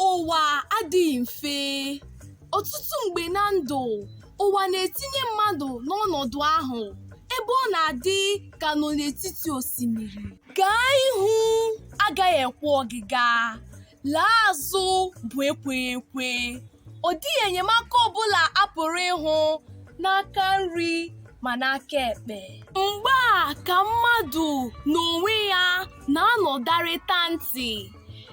Ụwa adịghị mfe. Ọtụtụ mgbe na ndụ, ụwa na-etinye mmadụ n'ọnọdụ ahụ ebe ọ na-adị ka nọ n'etiti osimiri. Gaa ihu agaghị ekwe ọgịga, laa azụ bụ ekweghị ekwe. Ọ dịghị enyemaka ọ bụla a pụrụ ịhụ n'aka nri ma n'aka ekpe. Mgbe a ka mmadụ n'onwe ya na-anọdarịta ntị.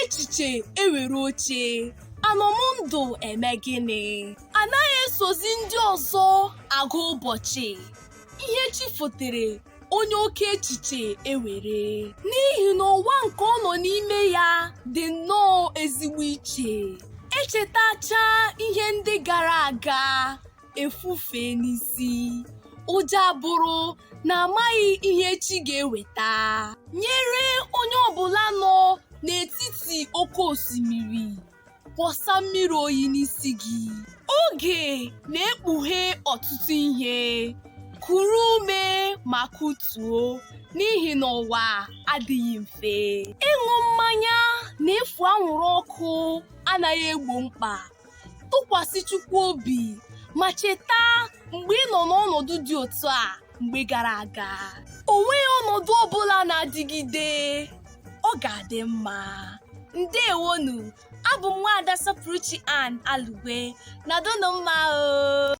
echiche ewere oche anọ m ndụ eme gịnị anaghị esozi ndị ọzọ agụ ụbọchị ihe chi fotere onye oke echiche ewere n'ihi na ụwa nke ọ nọ n'ime ya dị nnọọ ezigbo iche echetacha ihe ndị gara aga efufee n'isi ụjọ abụrụ na amaghị ihe chi ga-eweta nyere onye ọbụla nọ n'etiti oke osimiri kwọsa mmiri oyi n'isi gị oge na-ekpughe ọtụtụ ihe kuru ume ma kutuo n'ihi na ụwa adịghị mfe ịṅụ mmanya na ịfụ anwụrụ ọkụ anaghị egbo mkpa tụkwasị Chukwu obi ma cheta mgbe ị nọ n'ọnọdụ dị otu a mgbe gara aga o nweghị ọnọdụ ọbụla na-adịgide ọ ga-adị mma ndewonu abụ m nwaada Sọpụrụchi Ann Alugwe nọdụnụ mma o